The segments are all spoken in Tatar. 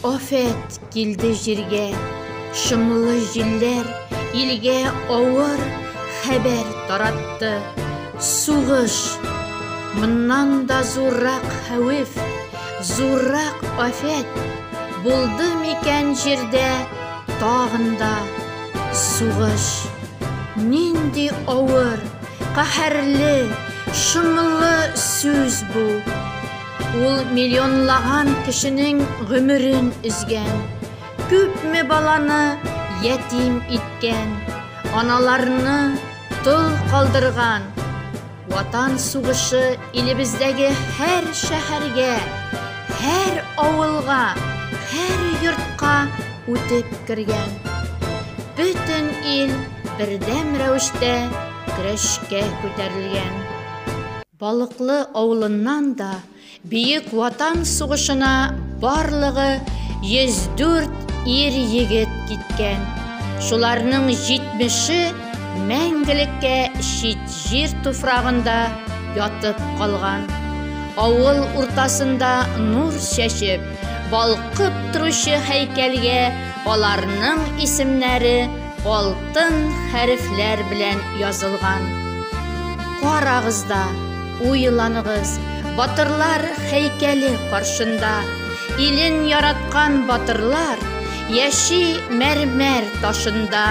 Афәт килде җиргә, шомлы җилләр илгә авыр хәбәр таратты. Сугыш. Моннан да зуррак хәвеф, зуррак афәт булды микән җирдә тагын да сугыш. Нинди авыр, каһәрле, шомлы сүз бу. Ул миллионлаган кешенең гомерен өзгән, күпме баланы ятим иткән, аналарны тол калдырган. Ватан сугышы илебездәге һәр шәһәргә, һәр авылга, һәр йортка үтеп кергән. Бөтен ил бердәм рәвештә көрәшкә күтәрелгән. Балыклы авылыннан да Бөек Ватан сугышына барлыгы 104 ир-егет киткән. Шуларның 70-е мәңгелеккә чит җир туфрагында ятып калган. Авыл уртасында нур чәчеп, балкып торучы һәйкәлгә аларның исемнәре Алтын хәрефләр белән язылган. Карагыз да, уйланыгыз, батырлар һәйкәле каршында. Илен яраткан батырлар яши мәрмәр ташында.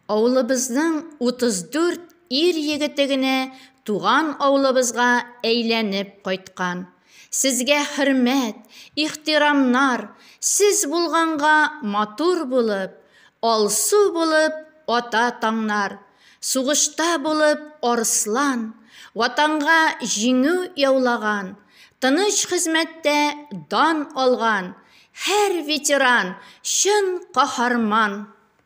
Авылыбызның 34 ир-егете генә туган авылыбызга әйләнеп кайткан. Сезгә хөрмәт, ихтирамнар, сез булганга матур булып, алсу булып ата таңнар, сугышта булып арыслан, ватанга җиңү яулаган, тыныч хезмәттә дан алган һәр ветеран чын каһарман!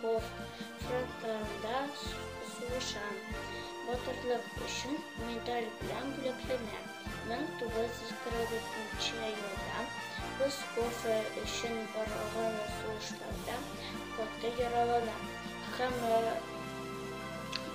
Ков, фронтларында сугыша. Батырлык өчен медаль белән бүләкләнә. 1942 елда кыз кофе өчен барылган сугышларда каты яралана һәм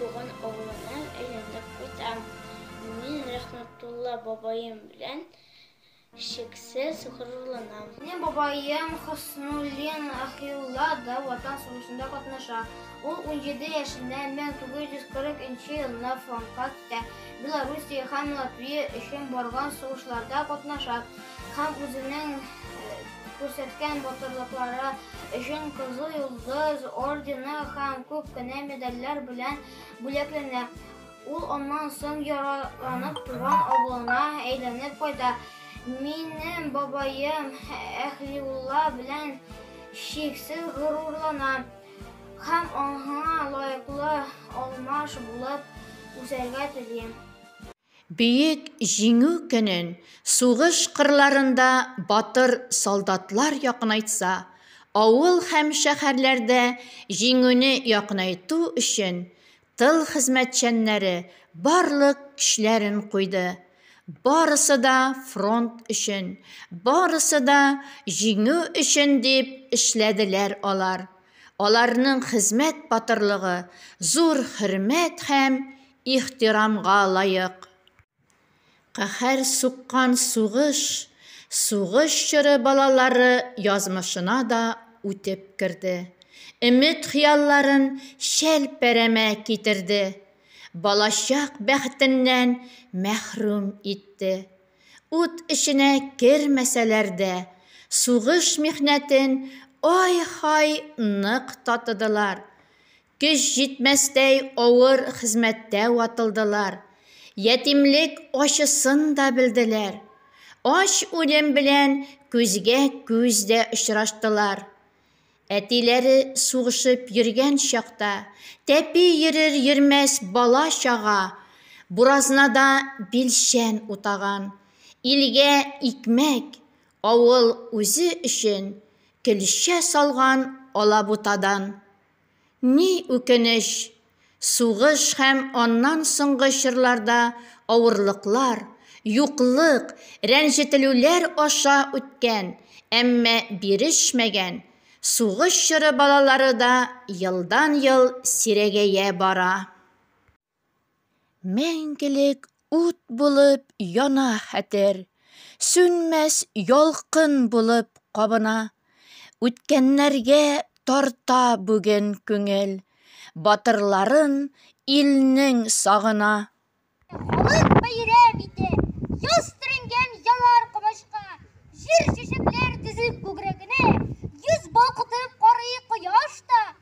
туган авылына әйләнеп кайта. Мин Рәхмәтулла бабаем белән Чиксез горурланам. Минем бабаем Хөснуллин Ахиулла да Ватан сугышында катнаша. Ул 17 яшендә 1940 нче елында фронтка китә. Белоруссия һәм Латвия өчен барган сугышларда катнаша һәм үзенең э, күрсәткән батырлыклары өчен Кызыл Йолдыз ордены һәм күп кенә медальләр белән бүләкләнә. Ул аннан соң яраланып туган авылына әйләнеп кайта. Минем бабаем Әхлиулла белән чиксез горурлана һәм аңа лаеклы алмаш булып үсәргә тели. Бөек Җиңү көнен сугыш кырларында батыр солдатлар якынайтса, авыл һәм шәһәрләрдә Җиңүне якынайту өчен Тыл хезмәтчәннәре барлык көчләрен куйды. Барысы да фронт өчен, барысы да җиңү өчен дип эшләделәр алар. Аларның хезмәт батырлыгы зур хөрмәт һәм ихтирамга лаек. Каһәр суккан сугыш, сугыш чоры балалары язмышына да үтеп керде. Өмет-хыялларын чәлпәрәмә китерде. Балачак бәхетеннән мәхрүм итте. Ут эченә кермәсәләр дә, сугыш михнәтен ай-һай нык татыдылар. Көч җитмәстәй авыр хезмәттә ватылдылар, ятимлек ачысын да белделәр, ач үлем белән күзгә күз дә очраштылар. Әтиләре сугышып йөргән чакта, тәпи йөрер-йөрмәс бала-чага буразнада билчән утаган, илгә икмәк, авыл үзе өчен көлчә салган алабутадан. Ни үкенеч, сугыш һәм аннан соңгы чорларда авырлыклар, юклык, рәнҗетелүләр аша үткән, әмма бирешмәгән, сугыш чоры балалары да елдан-ел сирәгәя бара. Мәңгелек ут булып яна хәтер, сүнмәс ялкын булып кабына. Үткәннәргә тарта бүген күңел, батырларын илнең сагына. Халык бәйрәм итә, яз төренгән ялар комачка. Җир чәчәкләр тезеп күкрәгенә, йөз балкытып карый кояш та.